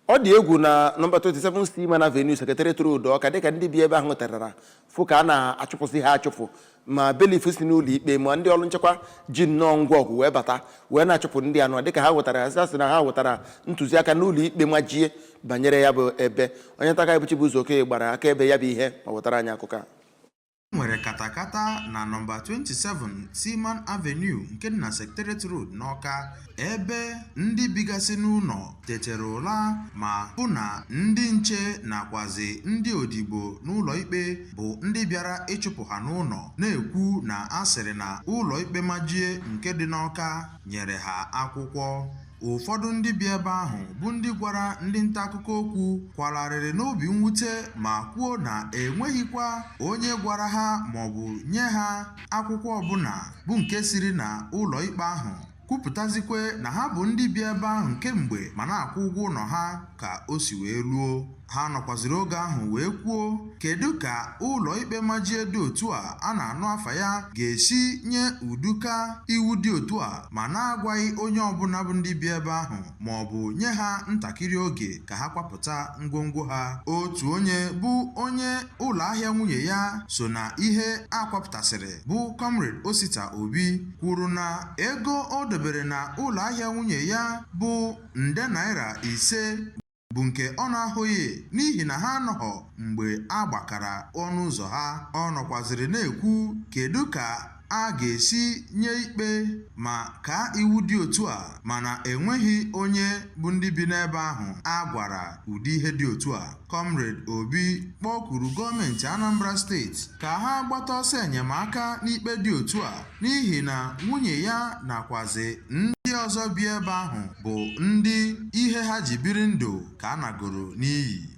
ọ dị egwu na nọmba 27 Seaman Avenue Secretariat Road Ọka dịka ndị bi ebe ahụ tetara fụ ka a na-achụpụsị ha achụpụ ma bailiff si n'ụlọ ikpe ma ndị ọlụ nchekwa ji nnọọ ngwa ọgụ wee bata wee na-achụpụ ndị anọ dịka ha wetara ha sị na ha wetara ntụziaka n'ụlọ ikpe majie banyere ya bụ ebe onye nta akụkọ bụ Chibụzọ Okoye gbara akaebe ya bụ ihe ma wetara anyị akụkọ a E nwere katakata na nọmba 27 Seaman Avenue nke dị na Secretariat Road n'Awka ebe ndị bigasị n'ụlọ tetere ụla ma hụ na ndị nche nakwazi ndị odibo n'ụlọikpe bụ ndị bịara ịchụpụ ha n'ụlọ na-ekwu na a sịrị na ụlọikpe majie nke dị n'Awka nyere ha akwụkwọ Ụfọdụ ndị bi ebe ahụ bụ ndị gwara ndị nta akụkọ okwu kwara arịrị n'obi mwute ma kwuo na enweghịkwa onye gwara ha maọbụ nye ha akwụkwọ ọbụla bụ nke siri na ụlọ ikpe ahụ kwupụtazikwe na ha bụ ndị bi ebe ahụ kemgbe ma na-akwụ ụgwọ ụlọ ha ka o si wee luo ha nọkwaziri oge ahụ wee kwuo kedu ka ụlọikpe majie dị otu a a na-anụ afa ya ga-esi nye ụdịka iwu dị otu a ma na-agwaghị onye ọbụla bụ ndị bi ebe ahụ ma ọ bụ nye ha ntakịrị oge ka ha kwapụta ngwongwo ha otu onye bụ onye ụlọ ahịa nwunye ya so na ihe a kwapụtasịrị bụ Comrade Osita Obi kwuru na ego o dobere na ụlọ ahịa nwunye ya bụ nde naira ise bụ nke ọ na-ahụghị n'ihi na ha anọghọ mgbe a gbakara ọnụ ụzọ ha ọ nọkwaziri na-ekwu kedu ka a ga-esi nye ikpe ma kaa iwu dị otu a mana enweghị onye bụ ndị bi n'ebe ahụ a gwara ụdị ihe dị otu a Comrade Obi kpọkuru gọọmenti Anambra steeti ka ha gbata ọsọ enyemaka n'ikpe dị otu a n'ihi na nwunye ya nakwazi ndị ọzọ bi ebe ahụ bụ ndị ihe ha ji biri ndụ ka a nagoro n'iyi.